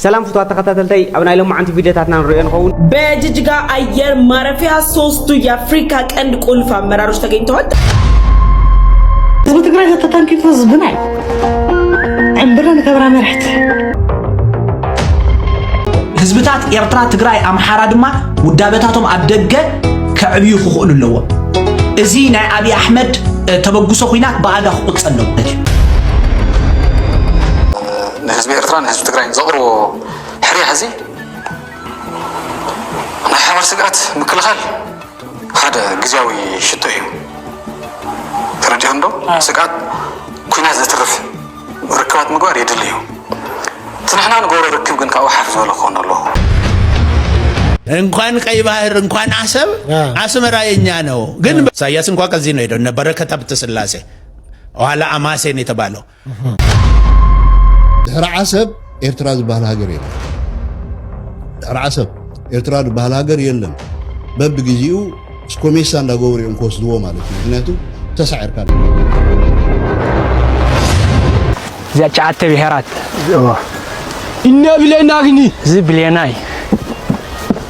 ሰላም ፍትዋት ተኸታተልተይ ኣብ ናይ ሎማዓንቲ ቪድዮታትና ንሪኦ ንኸውን። በጅጅጋ ኣየር ማረፊያ ሶስቱ የአፍሪካ ቀንድ ቁልፍ አመራሮች ተገኝተዋል። ህዝቢ ትግራይ ዘተታንኪቱ ህዝብና እዩ ዕምብረ ንከብራ መርሕቲ ህዝብታት ኤርትራ፣ ትግራይ፣ ኣምሓራ ድማ ውዳበታቶም ኣብ ደገ ከዕብዩ ክኽእሉ ኣለዎም። እዚ ናይ ኣብዪ ኣሕመድ ተበግሶ ኩናት ብኣጋ ክቁፀ ኣለዎ ማለት እዩ። ንህዝቢ ኤርትራን ንህዝቢ ትግራይን ዘቕርቦ ሕርያ እዚ ናይ ሓባር ስግኣት ምክልኻል ሓደ ግዜያዊ ሽቶ እዩ ተረዲኦም ዶ ስግኣት ኩናት ዘትርፍ ርክባት ምግባር የድሊ እዩ እቲ ንሕና ንገብሮ ርክብ ግን ካብኡ ሓፍ ዝበለ ክኾን ኣለዎ እንኳን ቀይ ባህር እንኳን አሰብ አስመራ የኛ ነው። ግን ኢሳያስ እንኳ ከዚህ ነው ሄደው እነ በረከት ሀብተ ስላሴ ኋላ አማሴን የተባለው ድሕሪ ዓሰብ ኤርትራ ዝበሃል ሃገር የለን። ድሕሪ ዓሰብ ኤርትራ ዝበሃል ሃገር የለን። በብግዜኡ ስኮሜሳ እንዳገበሩ እዮም ክወስድዎ ማለት እዩ። ምክንያቱ ተሳዒርካ እዚኣ ጨዓተ ብሄራት እነ ብሌና ግኒ እዚ ብሌና እዩ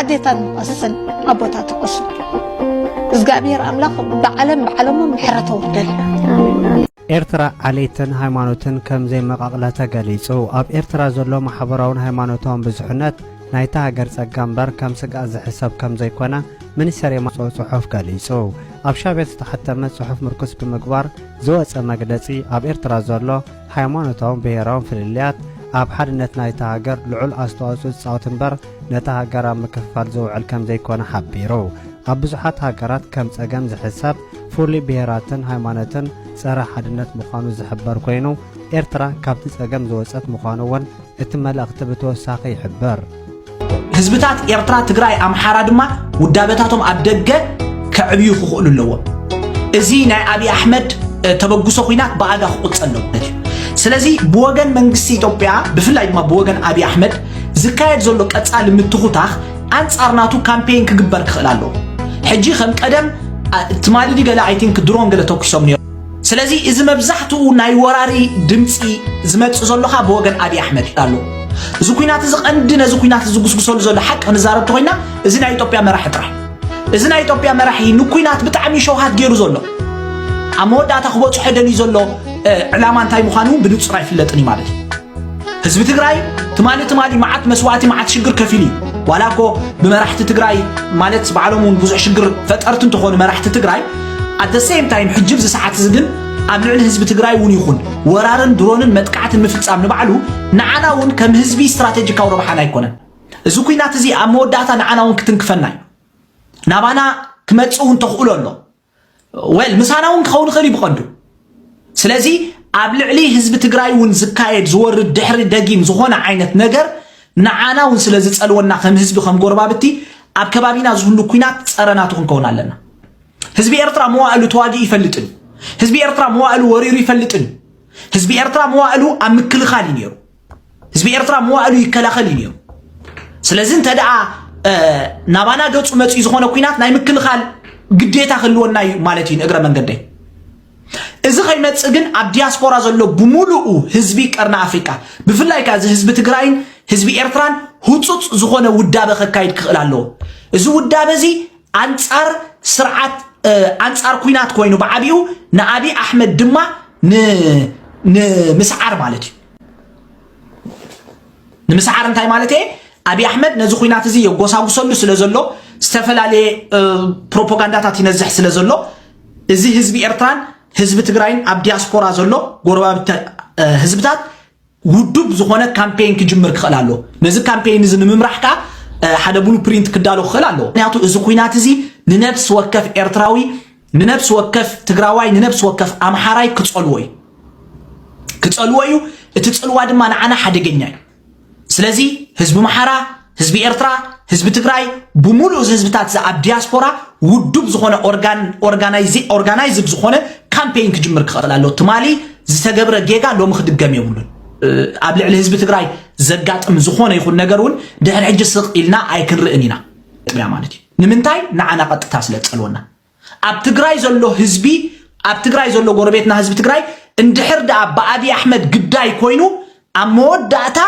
ኣዴታት ንቐስን ኣቦታት ንቐስን እግዚኣብሔር ኣምላኽ ብዓለም ብዓለሞም ምሕረት ኣውርደል ኤርትራ ዓሌትን ሃይማኖትን ከም ዘይመቓቕለ ተገሊጹ ኣብ ኤርትራ ዘሎ ማሕበራውን ሃይማኖታውን ብዙሕነት ናይታ ሃገር ጸጋ እምበር ከም ስግኣት ዝሕሰብ ከም ዘይኮነ ሚኒስተር የማፅኦ ጽሑፍ ገሊጹ ኣብ ሻቤት ዝተሓተመ ጽሑፍ ምርኩስ ብምግባር ዝወፀ መግለጺ ኣብ ኤርትራ ዘሎ ሃይማኖታውን ብሄራውን ፍልልያት ኣብ ሓድነት ናይታ ሃገር ልዑል ኣስተዋፅኦ ዝፃወት እምበር ነታ ሃገር ኣብ ምክፍፋል ዝውዕል ከምዘይኮነ ሓቢሩ። ኣብ ብዙሓት ሃገራት ከም ፀገም ዝሕሰብ ፍሉይ ብሄራትን ሃይማኖትን ፀረ ሓድነት ምዃኑ ዝሕበር ኮይኑ ኤርትራ ካብቲ ፀገም ዝወፀት ምዃኑ እውን እቲ መልእኽቲ ብተወሳኺ ይሕብር። ህዝብታት ኤርትራ፣ ትግራይ፣ ኣምሓራ ድማ ውዳበታቶም ኣብ ደገ ከዕብዩ ክኽእሉ ኣለዎም። እዚ ናይ ኣብዪ ኣሕመድ ተበግሶ ኩናት ብኣጋ ክቁፀ ኣለዎ ማለት እዩ። ስለዚ ብወገን መንግስቲ ኢትዮጵያ ብፍላይ ድማ ብወገን ኣብዪ ኣሕመድ ዝካየድ ዘሎ ቀፃሊ ምትኹታኽ ኣንፃር ናቱ ካምፔይን ክግበር ክኽእል ኣለዎ። ሕጂ ከም ቀደም ትማሊ ገለ ኣይ ቲንክ ድሮን ገለ ተኩሶም ነይሮም ስለዚ እዚ መብዛሕትኡ ናይ ወራሪ ድምፂ ዝመፅእ ዘሎ ከዓ ብወገን ኣብዪ ኣሕመድ እዩ ኣሎ እዚ ኩናት እዚ ቀንዲ ነዚ ኩናት ዝጉስጉሰሉ ዘሎ ሓቂ ክንዛረብ እንተኮይና እዚ ናይ ኢትዮጵያ መራሒ ጥራሕ እዚ ናይ ኢትዮጵያ መራሒ ንኩናት ብጣዕሚ ሸውሃት ገይሩ ዘሎ ኣብ መወዳእታ ክበፅሖ ደልዩ ዘሎ ዕላማ እንታይ ምዃኑ እውን ብንፁር ኣይፍለጥን እዩ ማለት እዩ ህዝቢ ትግራይ ትማሊ ትማሊ መዓት መስዋእቲ መዓት ሽግር ከፊሉ እዩ ዋላ እኮ ብመራሕቲ ትግራይ ማለት ባዕሎም እውን ብዙሕ ሽግር ፈጠርቲ እንትኾኑ መራሕቲ ትግራይ ኣት ሴም ታይም ሕጂ ብዚ ሰዓት እዚ ግን ኣብ ልዕሊ ህዝቢ ትግራይ እውን ይኹን ወራርን ድሮንን መጥቃዕትን ምፍፃም ንባዕሉ ንዓና እውን ከም ህዝቢ ስትራቴጂካዊ ረብሓና ኣይኮነን እዚ ኩናት እዚ ኣብ መወዳእታ ንዓና እውን ክትንክፈና እዩ ናባና ክመፅእ እውን ተኽእሎ ኣሎ ወል ምሳና እውን ክኸውን ይኽእል እዩ ብቐንዱ ስለዚ ኣብ ልዕሊ ህዝቢ ትግራይ እውን ዝካየድ ዝወርድ ድሕሪ ደጊም ዝኾነ ዓይነት ነገር ንዓና እውን ስለ ዝፀልወና ከም ህዝቢ ከም ጎረባብቲ ኣብ ከባቢና ዝህሉ ኩናት ፀረናቱ ክንከውን ኣለና ህዝቢ ኤርትራ መዋእሉ ተዋጊኡ ይፈልጥን እዩ ህዝቢ ኤርትራ መዋእሉ ወሪሩ ይፈልጥን እዩ ህዝቢ ኤርትራ መዋእሉ ኣብ ምክልኻል እዩ ነይሩ ህዝቢ ኤርትራ መዋእሉ ይከላኸል እዩ ነይሩ ስለዚ እንተ ደኣ ናባና ገጹ መፅኡ ዝኾነ ኩናት ናይ ምክልኻል ግዴታ ክህልወና እዩ ማለት እዩ ንእግረ መንገደይ እዚ ከይመፅእ ግን ኣብ ዲያስፖራ ዘሎ ብምሉኡ ህዝቢ ቀርኒ ኣፍሪቃ ብፍላይ ከ እዚ ህዝቢ ትግራይን ህዝቢ ኤርትራን ህፁፅ ዝኾነ ውዳበ ከካይድ ክኽእል ኣለዎ እዚ ውዳበ እዚ ኣንፃር ስርዓት ኣንፃር ኩናት ኮይኑ ብዓቢኡ ንኣብዪ ኣሕመድ ድማ ንምስዓር ማለት እዩ ንምስዓር እንታይ ማለት እየ ኣብዪ ኣሕመድ ነዚ ኩናት እዚ የጎሳጉሰሉ ስለ ዘሎ ዝተፈላለየ ፕሮፓጋንዳታት ይነዝሕ ስለ ዘሎ እዚ ህዝቢ ኤርትራን ህዝቢ ትግራይን ኣብ ዲያስፖራ ዘሎ ጎረባብቲ ህዝብታት ውዱብ ዝኾነ ካምፔይን ክጅምር ክኽእል ኣሎ ነዚ ካምፔይን እዚ ንምምራሕ ከዓ ሓደ ብሉ ፕሪንት ክዳሎ ክኽእል ኣሎ ምክንያቱ እዚ ኩናት እዚ ንነብሲ ወከፍ ኤርትራዊ ንነብሲ ወከፍ ትግራዋይ ንነብሲ ወከፍ ኣምሓራይ ክጸልዎ እዩ ክጸልዎ እዩ እቲ ጽልዋ ድማ ንዓና ሓደገኛ እዩ ስለዚ ህዝቢ ምሓራ ህዝቢ ኤርትራ ህዝቢ ትግራይ ብምሉእ እዚ ህዝብታት እዚ ኣብ ዲያስፖራ ውዱብ ዝኾነ ኦርጋናይዝድ ዝኾነ ካምፔይን ክጅምር ክኽእል ኣሎ ትማሊ ዝተገብረ ጌጋ ሎሚ ክድገም የብሉን ኣብ ልዕሊ ህዝቢ ትግራይ ዘጋጥም ዝኾነ ይኹን ነገር እውን ድሕሪ ሕጂ ስቕ ኢልና ኣይክንርእን ኢና ጥያ ማለት እዩ ንምንታይ ንዓና ቀጥታ ስለ ዝጸልወና ኣብ ትግራይ ዘሎ ህዝቢ ኣብ ትግራይ ዘሎ ጎረቤትና ህዝቢ ትግራይ እንድሕር ደኣ ብኣብዪ ኣሕመድ ግዳይ ኮይኑ ኣብ መወዳእታ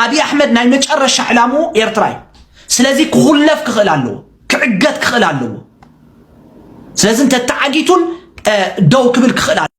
ኣብዪ ኣሕመድ ናይ መጨረሻ ዕላምኡ ኤርትራ እዩ ስለዚ ክኹለፍ ክኽእል ኣለዎ ክዕገት ክኽእል ኣለዎ ስለዚ እንተተዓጊቱን ደው ክብል ክኽእል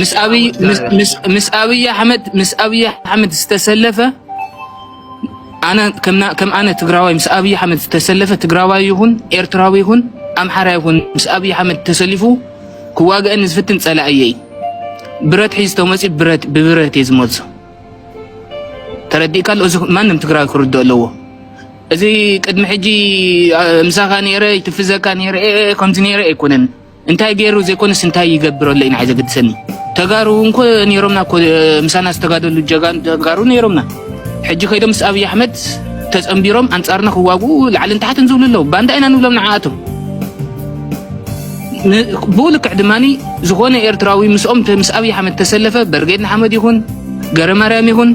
ምስ ኣብይ ምስ ኣብይ ኣሕመድ ምስ ኣብይ ኣሕመድ ዝተሰለፈ ኣነ ከም ኣነ ትግራዋይ ምስ ኣብይ ኣሕመድ ዝተሰለፈ ትግራዋይ ይኹን ኤርትራዊ ይኹን ኣምሓራ ይኹን ምስ ኣብይ ኣሕመድ ተሰሊፉ ክዋግአኒ ዝፍትን ጸላእየይ ብረት ሒዝ ተመፂ ብረት ብብረት እየ ዝመልሶ ተረዲእካ እዚ ማንም ትግራዊ ክርድኦ ኣለዎ እዚ ቅድሚ ሕጂ ምሳኻ ነይረ ይትፍዘካ ነይረ ከምዚ ነይረ ኣይኮነን እንታይ ገይሩ ዘይኮነስ እንታይ ይገብር ኣሎ እዩ ንዓይ ዘገድሰኒ። ተጋሩ እንኮ ነይሮምና እኮ ምሳና ዝተጋደሉ ጀጋኑ ተጋሩ ነይሮምና። ሕጂ ከይዶም ምስ ኣብይ ኣሕመድ ተጸንቢሮም ኣንጻርና ክዋግኡ ላዕልን ታሕትን ዝብሉ ኣለዉ። ባንዳ ኢና ንብሎም ንዓኣቶም። ብኡ ልክዕ ድማኒ ዝኾነ ኤርትራዊ ምስኦም ምስ ኣብይ ኣሕመድ ተሰለፈ በርጌድ ንሓመድ ይኹን ገረ ማርያም ይኹን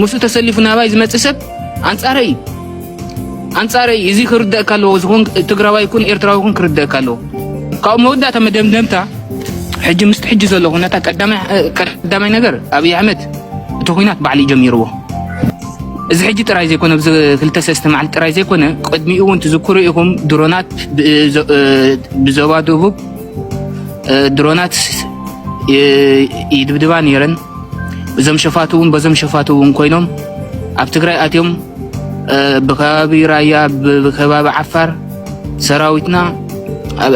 ምስኡ ተሰሊፉ ናባይ ዝመጽእ ሰብ ኣንጻረይ እዩ። ኣንጻረይ እዚ ክርደኣካ ኣለዎ ዝኹን ትግራዋይ ይኩን ኤርትራዊ ይኹን ክርደኣካ ኣለዎ ካብኡ መወዳእታ መደምደምታ ሕጂ ምስቲ ሕጂ ዘሎ ኩነታ ቀዳማይ ነገር ኣብይ ኣሕመድ እቲ ኩናት ባዕሉ ጀሚርዎ እዚ ሕጂ ጥራይ ዘይኮነ እዚ ክልተ ሰለስተ መዓልቲ ጥራይ ዘይኮነ ቅድሚኡ እውን ትዝክሩ ኢኹም ድሮናት ብዞባ ደቡብ ድሮናት ይድብድባ ነይረን እዞም ሸፋቱ እውን በዞም ሸፋቱ እውን ኮይኖም ኣብ ትግራይ ኣትዮም ብከባቢ ራያ ብከባቢ ዓፋር ሰራዊትና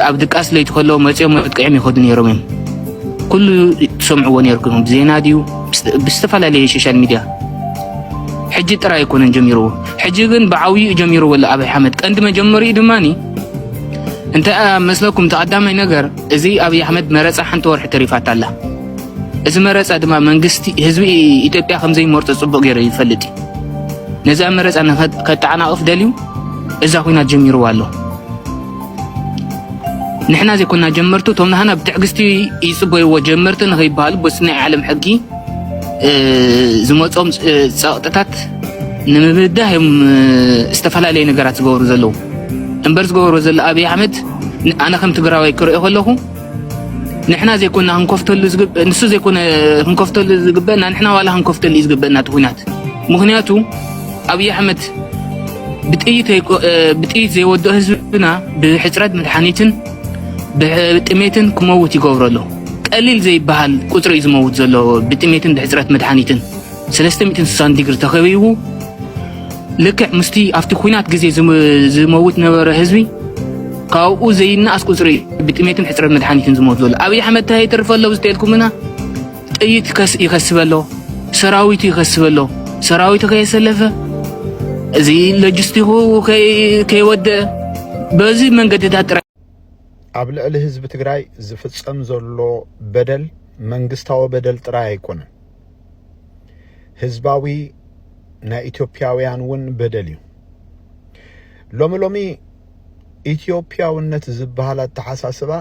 ኣብ ድቃስ ለይቲ ከሎ መፅኦም መጥቅዕም ይኸዱ ነይሮም እዮም ኩሉ ትሰምዕዎ ነይርኩም ብዜና ድዩ ብዝተፈላለየ ሶሻል ሚድያ ሕጂ ጥራይ ኣይኮነን ጀሚርዎ ሕጂ ግን ብዓብይኡ ጀሚርዎ ኣሎ ኣብይ ኣሕመድ ቀንዲ መጀመሪኡ ድማ እንታይ መስለኩም ተቐዳማይ ነገር እዚ ኣብይ ኣሕመድ መረፃ ሓንቲ ወርሒ ተሪፋታ ኣላ እዚ መረፃ ድማ መንግስቲ ህዝቢ ኢትዮጵያ ከምዘይመርፆ ፅቡቅ ገይሩ ይፈልጥ እዩ ነዚ ኣብ መረፃ ከጠዓናቕፍ ደልዩ እዛ ኩናት ጀሚርዋ ኣሎ ንሕና ዘይኮና ጀመርቱ እቶም ንሃና ብትዕግስቲ ይፅበይዎ ጀመርቲ ንኸይበሃሉ በስ ናይ ዓለም ሕጊ ዝመፆም ፀቕጥታት ንምብዳህ እዮም ዝተፈላለዩ ነገራት ዝገብሩ ዘለዉ እምበር ዝገበሩ ዘሎ ኣብዪ ኣሕመድ ኣነ ከም ትግራዋይ ክሪኦ ከለኹ ንሕና ዘይኮና ክንከፍተሉ ዝግበእ ንሱ ዘይኮነ ክንከፍተሉ ዝግበእና ንሕና ዋላ ክንከፍተሉ እዩ ዝግበእና እቲ ኩናት ምክንያቱ ኣብይ ኣሕመድ ብጥይት ዘይወድኦ ህዝብና ብሕፅረት መድሓኒትን ብጥሜትን ክመውት ይገብሮ ኣሎ ቀሊል ዘይበሃል ቁፅሪ እዩ ዝመውት ዘሎ ብጥሜትን ብሕፅረት መድሓኒትን ሰለስተ ሚእትን ስሳን ዲግሪ ተኸቢቡ ልክዕ ምስቲ ኣብቲ ኩናት ግዜ ዝመውት ነበረ ህዝቢ ካብኡ ዘይነኣስ ቁፅሪ ብጥሜትን ሕፅረት መድሓኒትን ዝሞት ዘሎ ኣብይ ኣሕመድ እንታይ ይተርፈ ኣሎ ብዝተልኩምና ጥይት ይኸስበ ኣሎ ሰራዊቱ ይኸስበ ኣሎ ሰራዊቱ ከየሰለፈ እዚ ሎጂስቲኩ ከይወደአ በዚ መንገድታት ጥራይ ኣብ ልዕሊ ህዝቢ ትግራይ ዝፍፀም ዘሎ በደል መንግስታዊ በደል ጥራይ ኣይኮነን። ህዝባዊ ናይ ኢትዮጵያውያን እውን በደል እዩ ሎሚ ሎሚ ኢትዮጵያውነት ዝበሃል ኣተሓሳስባ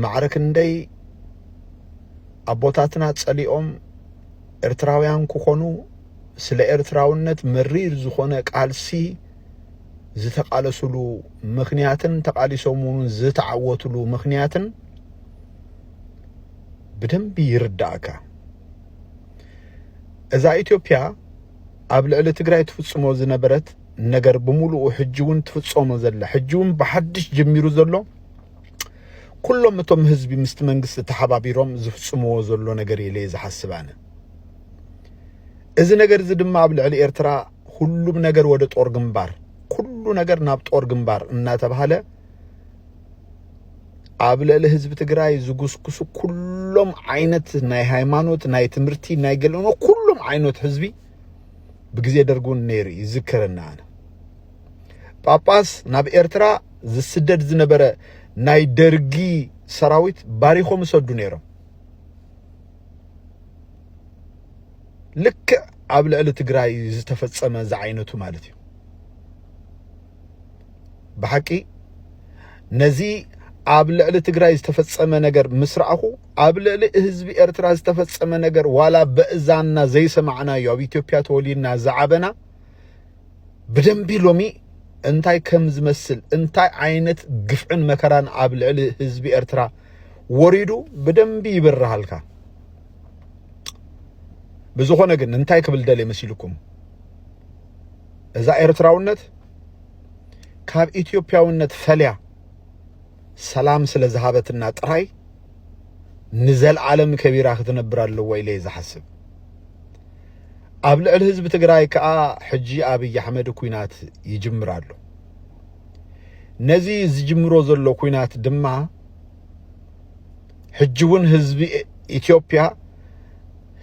ማዕረ ክንደይ ኣቦታትና ጸሊኦም ኤርትራውያን ክኾኑ ስለ ኤርትራውነት መሪር ዝኾነ ቃልሲ ዝተቃለሱሉ ምክንያትን ተቃሊሶም እውን ዝተዓወትሉ ምክንያትን ብደንቢ ይርዳእካ። እዛ ኢትዮጵያ ኣብ ልዕሊ ትግራይ ትፍጽሞ ዝነበረት ነገር ብምሉኡ ሕጂ እውን ትፍጸሞ ዘላ ሕጂ እውን ብሓድሽ ጀሚሩ ዘሎ ኩሎም እቶም ህዝቢ ምስቲ መንግስቲ ተሓባቢሮም ዝፍጽምዎ ዘሎ ነገር ኢለ ዝሓስብ ኣነ እዚ ነገር እዚ ድማ ኣብ ልዕሊ ኤርትራ ሁሉም ነገር ወደ ጦር ግንባር ኩሉ ነገር ናብ ጦር ግንባር እናተባሃለ ኣብ ልዕሊ ህዝቢ ትግራይ ዝጉስጉሱ ኩሎም ዓይነት ናይ ሃይማኖት ናይ ትምህርቲ ናይ ገልእኖ ኩሎም ዓይነት ህዝቢ ብግዜ ደርጊ እውን ነይሩ እዩ ዝከረና ኣነ ጳጳስ ናብ ኤርትራ ዝስደድ ዝነበረ ናይ ደርጊ ሰራዊት ባሪኾም ይሰዱ ነይሮም ልክዕ ኣብ ልዕሊ ትግራይ ዝተፈጸመ ዝዓይነቱ ማለት እዩ ብሓቂ ነዚ ኣብ ልዕሊ ትግራይ ዝተፈጸመ ነገር ምስ ረኣኹ ኣብ ልዕሊ ህዝቢ ኤርትራ ዝተፈጸመ ነገር ዋላ በእዛንና ዘይሰማዕናዮ ኣብ ኢትዮጵያ ተወሊድና ዝዓበና ብደንቢ ሎሚ እንታይ ከም ዝመስል እንታይ ዓይነት ግፍዕን መከራን ኣብ ልዕሊ ህዝቢ ኤርትራ ወሪዱ ብደንቢ ይብርሃልካ። ብዝኾነ ግን እንታይ ክብል ደልየ መሲልኩም እዛ ኤርትራውነት ካብ ኢትዮጵያውነት ፈልያ ሰላም ስለ ዝሃበትና ጥራይ ንዘለዓለም ከቢራ ክትነብር ኣለዎ ኢለ እየ ዝሓስብ ኣብ ልዕሊ ህዝቢ ትግራይ ከዓ ሕጂ ኣብይ ኣሕመድ ኩናት ይጅምር ኣሎ ነዚ ዝጅምሮ ዘሎ ኩናት ድማ ሕጂ እውን ህዝቢ ኢትዮጵያ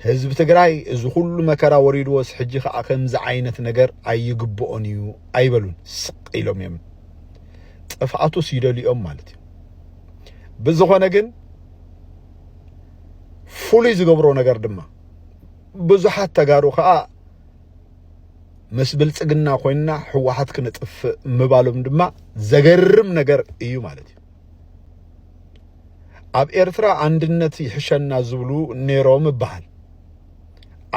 ህዝቢ ትግራይ እዚ ኩሉ መከራ ወሪድዎስ ሕጂ ከዓ ከምዚ ዓይነት ነገር ኣይግብኦን እዩ ኣይበሉን ስቅ ኢሎም እዮም ጥፍኣቱስ ይደልኦም ማለት እዩ ብዝኾነ ግን ፍሉይ ዝገብሮ ነገር ድማ ብዙሓት ተጋሩ ከዓ ምስ ብልፅግና ኮይንና ህወሓት ክነጥፍእ ምባሎም ድማ ዘገርም ነገር እዩ ማለት እዩ ኣብ ኤርትራ ኣንድነት ይሕሸና ዝብሉ ነይሮም ይበሃል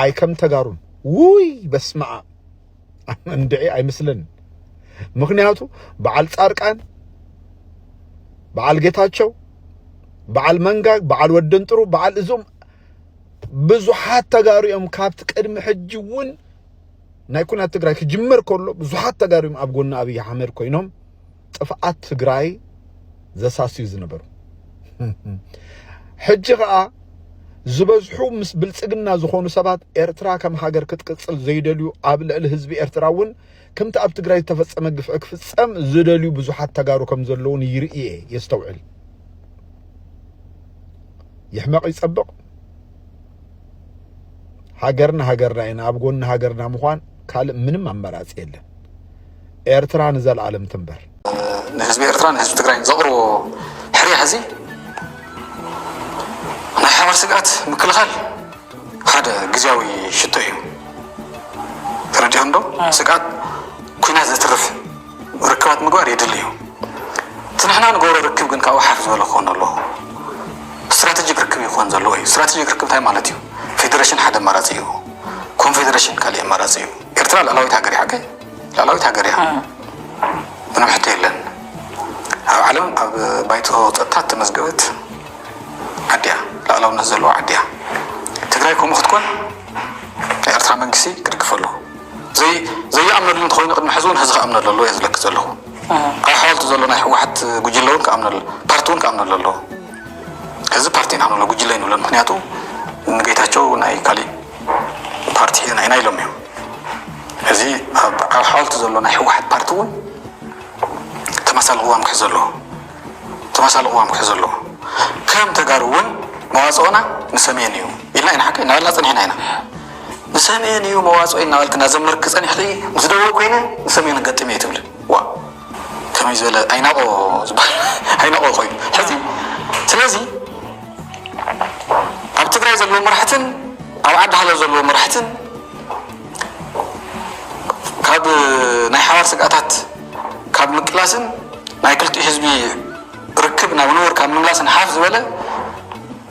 ኣይ ከም ተጋሩን ውይ በስመኣ እንድዒ ኣይምስልን ምክንያቱ በዓል ጻርቃን በዓል ጌታቸው በዓል መንጋግ በዓል ወደንጥሩ በዓል እዞም ብዙሓት ተጋሩ እዮም ካብቲ ቅድሚ ሕጂ እውን ናይ ኩናት ትግራይ ክጅመር ከሎ ብዙሓት ተጋሩ እዮም ኣብ ጎኒ ኣብዪ ኣሕመድ ኮይኖም ጥፍኣት ትግራይ ዘሳስዩ ዝነበሩ ሕጂ ከዓ ዝበዝሑ ምስ ብልጽግና ዝኾኑ ሰባት ኤርትራ ከም ሃገር ክትቅጽል ዘይደልዩ ኣብ ልዕሊ ህዝቢ ኤርትራ እውን ከምቲ ኣብ ትግራይ ዝተፈጸመ ግፍዒ ክፍጸም ዝደልዩ ብዙሓት ተጋሩ ከም ዘለውን ይርኢ እየ የስተውዕል ይሕመቕ ይጸብቕ ሃገርና ሃገርና ኢና ኣብ ጎኒ ሃገርና ምዃን ካልእ ምንም ኣማራጺ የለን ኤርትራ ንዘልኣለም ትንበር። ንህዝቢ ኤርትራ ንህዝቢ ትግራይ ዘቕርቦ ሕርያ ሕዚ ናይ ሓባር ስግኣት ምክልኻል ሓደ ግዜያዊ ሽቶ እዩ ተረዲኦ እንዶ ስግኣት ኩናት ዘትርፍ ርክባት ምግባር የድሊ እዩ እቲ ንሕና ንገብሮ ርክብ ግን ካብኡ ሓፍ ዝበለ ክኾን ኣለዎ ስትራቴጂክ ርክብ ይኾን ዘለዎ እዩ ስትራቴጂክ ርክብ እንታይ ማለት እዩ ፌዴሬሽን ሓደ ኣማራፂ እዩ ኮንፌዴሬሽን ካሊእ ኣማራፂ እዩ ኤርትራ ልዕላዊት ሃገር እያ ላዕላዊት ሃገር እያ ምንም ሕቶ የለን ኣብ ዓለም ኣብ ባይቶ ፀጥታ ተመዝገበት ዓዲ እያ ላዕላውነት ዘለዎ ዓዲ እያ ትግራይ ከምኡ ክትኮን ኤርትራ መንግስቲ ክድግፈ ኣለዎ ዘይኣምነሉ እንተኮይኑ ቅድሚ ሕዚ እውን ህዚ ክኣምነሉ ኣለዎ እየ ዝለክ ዘለኹ ኣብ ሓወልቲ ዘሎ ናይ ህወሓት ጉጅለ እውን ክኣምነሉ ፓርቲ እውን ክኣምነሉ ኣለዎ ህዚ ፓርቲ ኢና ንብሎ ጉጅለ ይንብሎ ምክንያቱ ንጌታቸው ናይ ካሊእ ፓርቲ ሂና ኢና ኢሎም እዮም ሕዚ ኣብ ኣብ ሓወልቲ ዘሎ ናይ ህወሓት ፓርቲ እውን ተመሳሳሊ ቅዋም ክሕዝ ኣለዎ ተመሳሳሊ ቅዋም ክሕዝ ኣለዎ ከም ተጋሩ እውን መዋፅኦና ንሰሜን እዩ ኢልና ኢና ሓቂ እናበልና ፀኒሕና ኢና ንሰሜን እዩ መዋፅኦ እናበልክና ዘመርክ ፀኒሕኺ ምስ ደቡብ ኮይነ ንሰሜን ገጢመ እዩ ትብሊ ዋ ከመይ ዝበለ ኣይናቆ ዝበሃል ኣይናቆ እኮ እዩ ሕዚ ስለዚ ኣብ ትግራይ ዘለዎ መራሕትን ኣብ ዓዲ ሃሎ ዘለዎ መራሕትን ካብ ናይ ሓባር ስግኣታት ካብ ምቅላስን ናይ ክልቲኡ ህዝቢ ርክብ ናብ ንቡር ካብ ምምላስን ሓፍ ዝበለ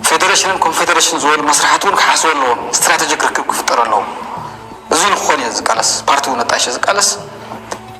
ፌደሬሽንን ኮንፌደሬሽን ዝበሉ መስራሕቲ እውን ክሓስቡ ኣለዎም ስትራቴጂክ ርክብ ክፍጠር ኣለዎም እዚ ንክኾን እየ ዝቃለስ ፓርቲ እውን ኣጣይሸ ዝቃለስ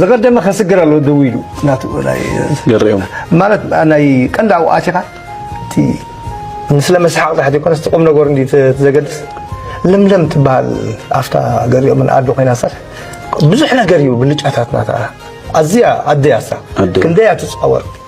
ዝቀደመ ከስግር ኣሎ ደው ኢሉ ናቱ ናይ ገሪኦም ማለት ናይ ቀንዲ ኣብኡ ኣቲኻ እቲ ንስለ መስሓቕ ትሕቲ ኮነስ ቁም ነገሩ እንዲ ዘገድስ ለምለም ትበሃል ኣፍታ ገሪኦምን ኣዶ ኮይና ሰር ብዙሕ ነገር እዩ ብልጫታትና ኣዝያ ኣደያሳ ክንደያ ትፃወር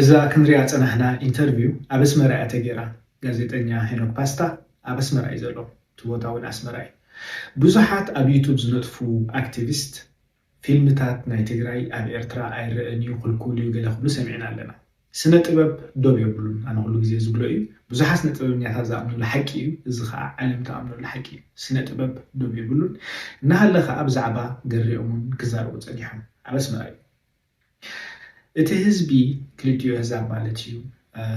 እዛ ክንሪኣ ዝጸናሕና ኢንተርቪው ኣብ ኣስመራ እያ ተጌራ። ጋዜጠኛ ሄኖክ ፓስታ ኣብ ኣስመራ እዩ ዘሎ። እቲ ቦታ እውን ኣስመራ እዩ። ብዙሓት ኣብ ዩቱብ ዝነጥፉ ኣክቲቪስት ፊልምታት ናይ ትግራይ ኣብ ኤርትራ ኣይረእን እዩ ክልኩል እዩ ገለ ክብሉ ሰሚዕና ኣለና። ስነ ጥበብ ዶብ የብሉን ኣነ ኩሉ ግዜ ዝብሎ እዩ። ብዙሓት ስነ ጥበበኛታት ዝኣምኑሉ ሓቂ እዩ። እዚ ከኣ ዓለም ትኣምነሉ ሓቂ እዩ። ስነ ጥበብ ዶብ የብሉን። እናሃለ ከኣ ብዛዕባ ገሬኦምውን ክዛረቡ ጸኒሖም። ኣብ ኣስመራ እዩ። እቲ ህዝቢ ክልቲኡ ኣህዛብ ማለት እዩ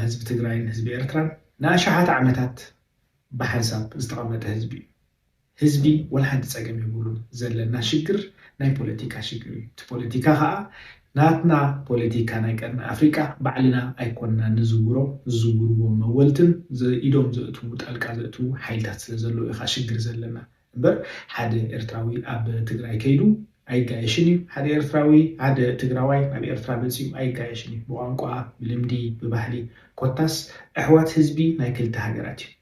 ህዝቢ ትግራይን ህዝቢ ኤርትራን ንኣሽሓት ዓመታት ብሓንሳብ ዝተቐመጠ ህዝቢ እዩ። ህዝቢ ወላ ሓንቲ ፀገም የብሉን ዘለና ሽግር ናይ ፖለቲካ ሽግር እዩ። እቲ ፖለቲካ ከዓ ናትና ፖለቲካ ናይ ቀርኒ ኣፍሪቃ ባዕልና ኣይኮንና ንዝውሮ ዝዝውርዎ መወልትን ዘኢዶም ዘእትዉ ጣልቃ ዘእትዉ ሓይልታት ስለዘለዉ እዩ ከዓ ሽግር ዘለና። እምበር ሓደ ኤርትራዊ ኣብ ትግራይ ከይዱ ኣይጋየሽን እዩ ሓደ ኤርትራዊ ሓደ ትግራዋይ ናብ ኤርትራ መጺኡ ኣይጋየሽን እዩ ብቋንቋ ብልምዲ ብባህሊ ኮታስ ኣሕዋት ህዝቢ ናይ ክልተ ሃገራት እዩ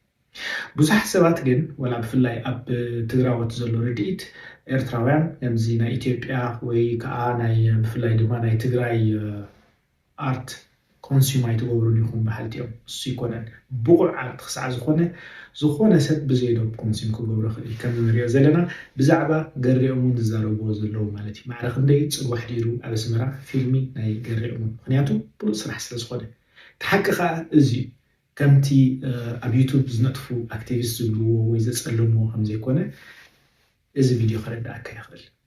ብዙሓት ሰባት ግን ወላ ብፍላይ ኣብ ትግራዎት ዘሎ ርድኢት ኤርትራውያን ከምዚ ናይ ኢትዮጵያ ወይ ከኣ ናይ ብፍላይ ድማ ናይ ትግራይ ኣርት ኮንስዩም ኣይትገብሩን ኢኹም በሃልቲ እዮም። እሱ ኣይኮነን ብቑዕ ኣርት ክሳዕ ዝኾነ ዝኾነ ሰብ ብዘይ ዶብ ኮንስዩም ክገብሮ ይኽእል እዩ። ከምዚ ንሪኦ ዘለና ብዛዕባ ገሬኦም እውን ዝዛረብዎ ዘለዉ ማለት እዩ። ማዕረ ክንደይ ፅልዋ ኣሕዲሩ ኣብ ኣስመራ ፊልሚ ናይ ገሬኦም እውን ምኽንያቱ ብሉፅ ስራሕ ስለ ዝኾነ። እቲ ሓቂ ከዓ እዚ እዩ። ከምቲ ኣብ ዩቱብ ዝነጥፉ ኣክቲቪስት ዝብልዎ ወይ ዘፀልምዎ ከምዘይኮነ እዚ ቪድዮ ከረድኣካ ይኽእል።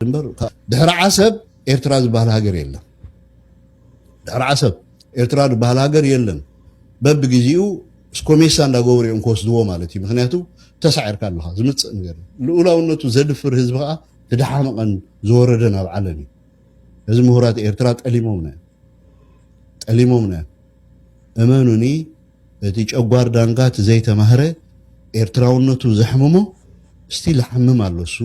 ድምበር ድሕሪ ዓሰብ ኤርትራ ዝበሃል ሃገር የለን ድሕሪ ዓሰብ ኤርትራ ዝበሃል ሃገር የለን በብግዜኡ ስኮሜሳ እንዳገበሩ እዮም ክወስድዎ ማለት እዩ ምክንያቱ ተሳዒርካ ኣለካ ዝምፅእ ነገር ልኡላውነቱ ዘድፍር ህዝቢ ከዓ ትደሓመቐን ዝወረደን ኣብ ዓለም እዩ እዚ ምሁራት ኤርትራ ጠሊሞምና ጠሊሞምና እመኑኒ እቲ ጨጓር ዳንጋ እቲ ዘይተማህረ ኤርትራውነቱ ዘሕምሞ ስቲል ይሓምም ኣሎ እሱ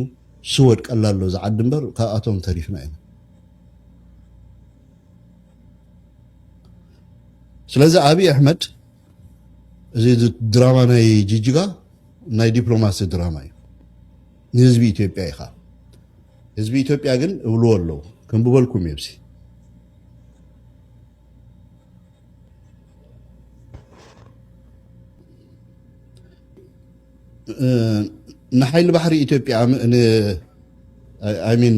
ስወድቀላ ኣሎ እዛ ዓዲ እምበር ካብኣቶም ተሪፍና ኢና ስለዚ ኣብይ ኣሕመድ እዚ ድራማ ናይ ጅጅጋ ናይ ዲፕሎማሲ ድራማ እዩ ንህዝቢ ኢትዮጵያ ኢኻ ህዝቢ ኢትዮጵያ ግን እብልዎ ኣለዉ ከምብበልኩም እየብሲ ንሓይሊ ባሕሪ ኢትዮጵያ ሚን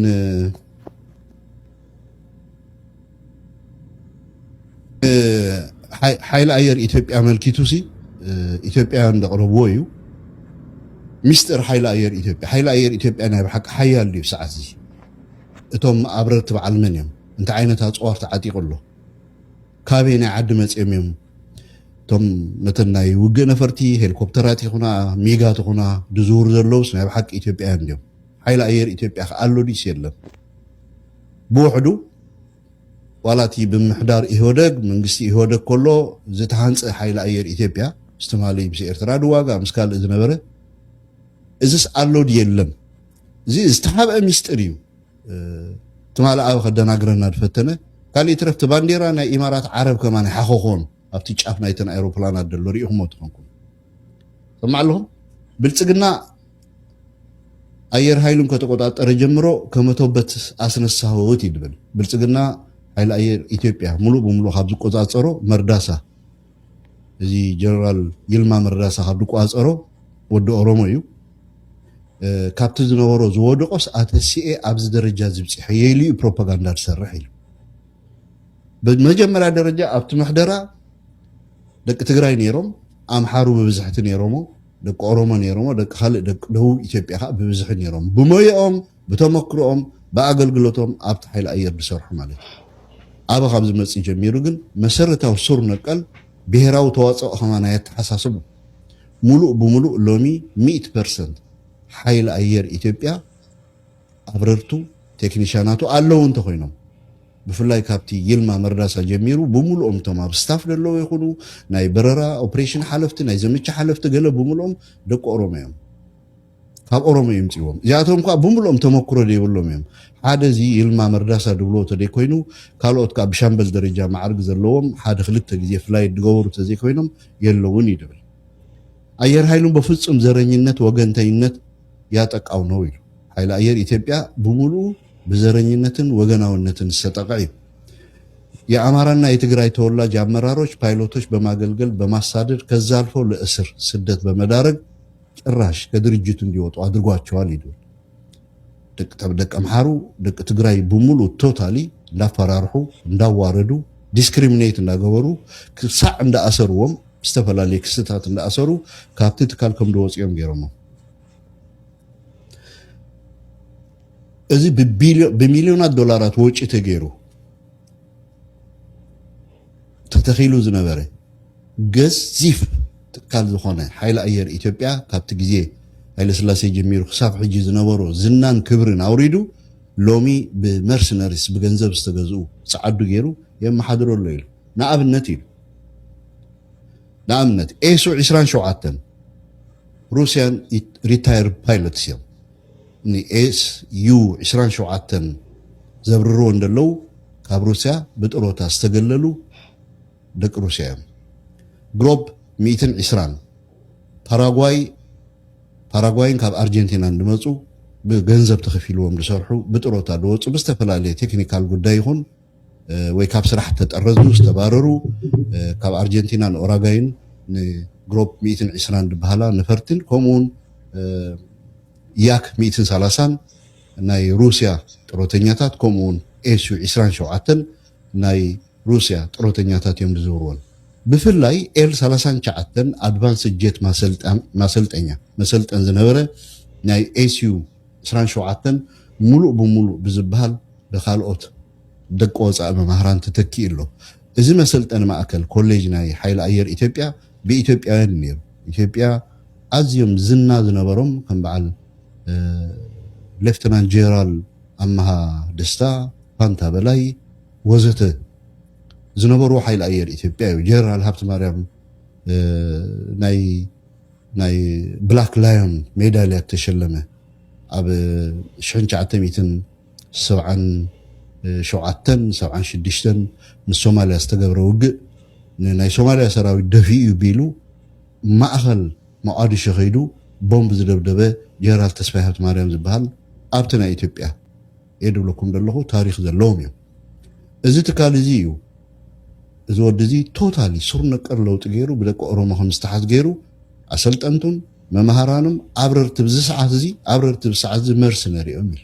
ሓይሊ ኣየር ኢትዮጵያ መልኪቱ ሲ ኢትዮጵያውያን ዘቕረብዎ እዩ ሚስጥር ሓይሊ ኣየር ኢትዮጵያ ሓይሊ ኣየር ኢትዮጵያ ናይ ብሓቂ ሓያል ድዩ ሰዓት እዚ እቶም ኣብረርቲ በዓል መን እዮም እንታይ ዓይነት ኣፅዋር ተዓጢቑ ኣሎ? ካበይ ናይ ዓዲ መፂኦም እዮም? እቶም ነተን ናይ ውግእ ነፈርቲ ሄሊኮፕተራት ይኹና ሚጋት ይኹና ድዝውሩ ዘለውስ ናይ ብሓቂ ኢትዮጵያውያን ድዮም? ሓይሊ ኣየር ኢትዮጵያ ከ ኣሎ ድዩስ የለን? ብውሕዱ ዋላ እቲ ብምሕዳር ኢህወደግ መንግስቲ ኢህወደግ ከሎ ዝተሃንፀ ሓይሊ ኣየር ኢትዮጵያ ምስ ትማሊ ምስ ኤርትራ ድዋጋ ምስ ካልእ ዝነበረ እዚስ ኣሎ ድዩ የለን? እዚ ዝተሓብአ ሚስጢር እዩ። ትማል ኣብ ከደናግረና ዝፈተነ ካልእ ይትረፍ እቲ ባንዴራ ናይ ኢማራት ዓረብ ከማን ሓኾኾን ኣብቲ ጫፍ ናይተን ኣይሮፕላናት ዘሎ ሪኢኹሞ ትኾንኩም ሰማዕ ኣለኹም ብልፅግና ኣየር ኃይሉን ከተቆጣጠረ ጀምሮ ከመቶበት ኣስነሳህወት ይድብል ብልፅግና ኃይሊ ኣየር ኢትዮጵያ ሙሉእ ብሙሉእ ካብ ዝቆፃፀሮ መርዳሳ እዚ ጀነራል ይልማ መርዳሳ ካብ ድቋፀሮ ወዲ ኦሮሞ እዩ ካብቲ ዝነበሮ ዝወደቆስ ኣተሲኤ ኣብዚ ደረጃ ዝብፅሐ የኢሉ እዩ ፕሮፓጋንዳ ዝሰርሕ ኢሉ ብመጀመርያ ደረጃ ኣብቲ ምሕደራ ደቂ ትግራይ ነይሮም ኣምሓሩ ብብዝሕቲ ነይሮሞ ደቂ ኦሮሞ ነይሮሞ ደቂ ካልእ ደቂ ደቡብ ኢትዮጵያ ከዓ ብብዝሒ ነይሮም ብሞየኦም ብተመክሮኦም ብኣገልግሎቶም ኣብቲ ሓይሊ ኣየር ዝሰርሑ ማለት እዩ። ኣበ ካብ ዝመፅእ ጀሚሩ ግን መሰረታዊ ሱር ነቀል ብሄራዊ ተዋፅኦ ከማን ኣየተሓሳስቡን። ሙሉእ ብሙሉእ ሎሚ ሚእቲ ፐርሰንት ሓይሊ ኣየር ኢትዮጵያ ኣብረርቱ፣ ቴክኒሻናቱ ኣለዉ እንተኾይኖም ብፍላይ ካብቲ ይልማ መርዳሳ ጀሚሩ ብምሉኦም እቶም ኣብ ስታፍ ዘለዉ ይኹኑ ናይ በረራ ኦፕሬሽን ሓለፍቲ ናይ ዘመቻ ሓለፍቲ ገለ ብምሉኦም ደቂ ኦሮሞ እዮም። ካብ ኦሮሞ እዮም ፅዎም እዚኣቶም ከዓ ብምልኦም ተመክሮ ዘይብሎም እዮም ሓደ እዚ ይልማ መርዳሳ ድብልዎ ተደይኮይኑ ካልኦት ከዓ ብሻምበል ደረጃ ማዕርግ ዘለዎም ሓደ ክልተ ግዜ ፍላይ ድገበሩ ተዘይኮይኖም የለውን እዩ ድብል ኣየር ኃይሉ በፍፁም ዘረኝነት ወገንተኝነት ያጠቃው ነው ይሉ ኃይሊ ኣየር ኢትዮጵያ ብምልኡ ብዘረኝነትን ወገናውነትን ዝተጠቀ እዩ የአማራና የትግራይ ተወላጅ አመራሮች ፓይሎቶች በማገልገል በማሳደድ ከዛ አልፎ ለእስር ስደት በመዳረግ ጭራሽ ከድርጅቱ እንዲወጡ ኣድርጓቸዋል ኢሉ። ደቂ ኣምሓሩ ደቂ ትግራይ ብሙሉ ቶታሊ እንዳፈራርሑ እንዳዋረዱ ዲስክሪሚኔት እንዳገበሩ ክሳዕ እንዳኣሰርዎም ዝተፈላለየ ክስታት እንዳኣሰሩ ካብቲ ትካል ከም ድወፅኦም ገይሮሞ እዚ ብሚልዮናት ዶላራት ወጪ ተገይሩ ተተኺሉ ዝነበረ ገዚፍ ትካል ዝኾነ ሓይሊ ኣየር ኢትዮጵያ ካብቲ ግዜ ሃይለስላሴ ጀሚሩ ክሳብ ሕጂ ዝነበሮ ዝናን ክብርን ኣውሪዱ ሎሚ ብመርሲነሪስ ብገንዘብ ዝተገዝኡ ጸዓዱ ገይሩ የመሓድሮ ኣሎ ኢሉ ንኣብነት ኢሉ ንኣብነት ኤሱ 27 ሩስያን ሪታየር ፓይለትስ እዮም ን ኤስ ዩ ዕስራን ሸውዓተን ዘብርርዎ እንደለዉ ካብ ሩስያ ብጥሮታ ዝተገለሉ ደቂ ሩስያ እዮም። ግሮብ ሚእትን ዕስራን ፓራጓይ ፓራጓይን ካብ ኣርጀንቲናን ድመጹ ብገንዘብ ተኸፊልዎም ድሰርሑ ብጥሮታ ድወጹ ብዝተፈላለየ ቴክኒካል ጉዳይ ይኹን ወይ ካብ ስራሕ እተጠረዙ፣ ዝተባረሩ፣ ካብ ኣርጀንቲናን ኦራጋይን ንግሮፕ ሚእትን ዕስራን ድበሃላ ነፈርትን ከምኡውን ያክ ሚእትን ሰላሳን ናይ ሩስያ ጥሮተኛታት ከምኡውን ኤሱ ዕስራን ሸውዓተን ናይ ሩስያ ጥሮተኛታት እዮም ዝዝውርዎን ብፍላይ ኤል ሰላሳን ሸዓተን ኣድቫንስ ጀት ማሰልጠኛ መሰልጠን ዝነበረ ናይ ኤስዩ ዕስራን ሸውዓተን ሙሉእ ብሙሉእ ብዝበሃል ብካልኦት ደቂ ወፃኢ መማህራን ተተኪኡ ኣሎ። እዚ መሰልጠኒ ማእከል፣ ኮሌጅ ናይ ሓይሊ ኣየር ኢትዮጵያ ብኢትዮጵያውያን እዩ ነይሩ። ኢትዮጵያ ኣዝዮም ዝና ዝነበሮም ከም በዓል ሌፍተናንት ጄራል ኣመሃ ደስታ፣ ፋንታ በላይ ወዘተ ዝነበርዎ ሓይሊ ኣየር ኢትዮጵያ እዩ። ጄነራል ሃብተማርያም ናይ ናይ ብላክ ላዮን ሜዳልያ እተሸለመ ኣብ ሽሕን ትሽዓተ ሚእትን ሰብዓን ሸውዓተን ሰብዓን ሽዱሽተን ምስ ሶማልያ ዝተገብረ ውግእ ንናይ ሶማልያ ሰራዊት ደፊኡ እዩ ቢሉ ማእኸል ሞቓዲሾ ከይዱ ቦምብ ዝደብደበ ጀነራል ተስፋይ ሃብተማርያም ዝበሃል ኣብቲ ናይ ኢትዮጵያ እየ ድብለኩም ደለኹ ታሪኽ ዘለዎም እዮም እዚ ትካል እዚ እዩ እዚ ወዲ እዚ ቶታሊ ሱር ነቀር ለውጢ ገይሩ ብደቂ ኦሮሞ ከም ዝተሓዝ ገይሩ ኣሰልጠንቱን መማሃራኑም ኣብረርቲ ብዚ ሰዓት እዚ ኣብረርቲ ብሰዓት እዚ መርሲ ነሪኦም ኢሉ